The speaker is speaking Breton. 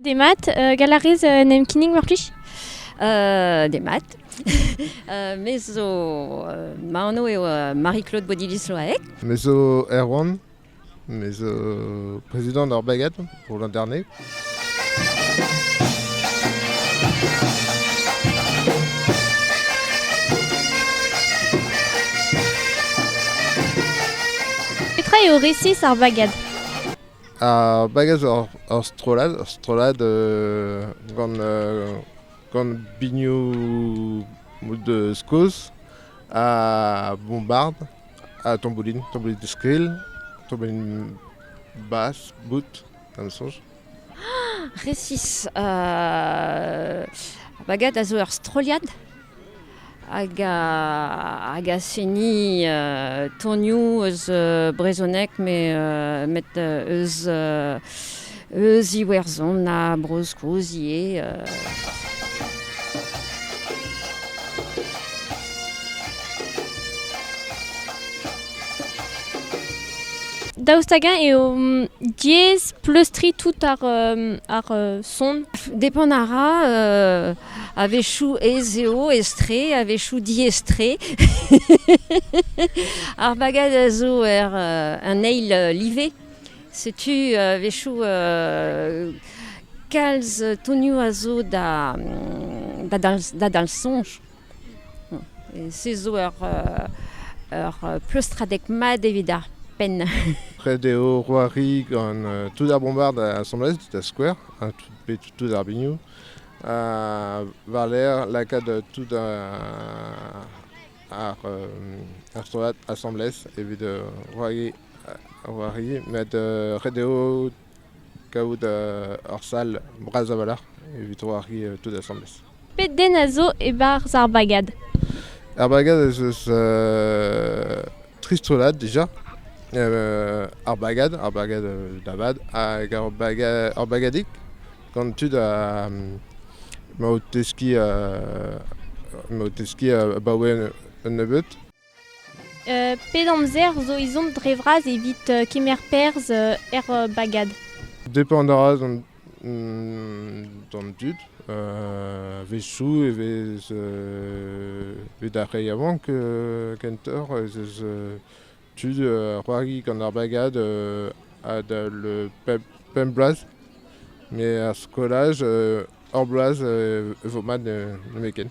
Demat, gall a rez en em kinnig mar plij? Demat. me zo... ma anv eo Marie-Claude Bodiliz-Loaec. Me zo Erwan. Me zo prezidant ar Bagad pour l'Internat. Petra eo resis ar Bagad? Ar bagaj ur strollad, ur strollad gant gant binioù deus Skos ha bombard ha tamboulin, tamboulin skrill, tamboulin bas, boud, da ma soñj. Resis, ar bagad a zo ur strollad. Hag a seni tonioù eus brezhoneg met eus Iwerzhon ha Bro-Skos ivez. Daoust hag-eñ eo mm, diaes pleustriñ tout ar, ar son? Depend a ra A-wechoù ez eo etre, a-wechoù diaes-tre. Ar bagad a zo er, euh, un eil euh, live. Setu a-wechoù euh, kalz tonioù a zo da, mm, da, dal, da dal soñj. Se zo ur, ur pleustradeg mat evit ar penn. Ret eo c'hoari gant tout ar bombard assemblez, tout ar skouer, tout, tout ar biniou. war-lerc'h lakaat tout ar strollad asambles evit c'hoari met ret eo kavout ur sal bras a-walc'h evit c'hoari tout asambles. Pet den a zo e-barzh ar bagad? Ar bagad ez eus Tri strollad déjà. Euh, ar bagad, ar bagad euh, da vat, hag ur, baga ur bagadig gant tud a, ma o teskiñ uh, ma o teskiñ abaoe un nebeud. Uh, pet amzer zo ezhomm dre vras evit kemer perzh er bagad? Depend a ra d'an dud. A-wechoù e vez bet ar re yaouank kentoc'h ez eus tud o c'hoari gant ar bagad adal pemp bloaz. Met er skolaj hor bloaz e vo mat nemetken.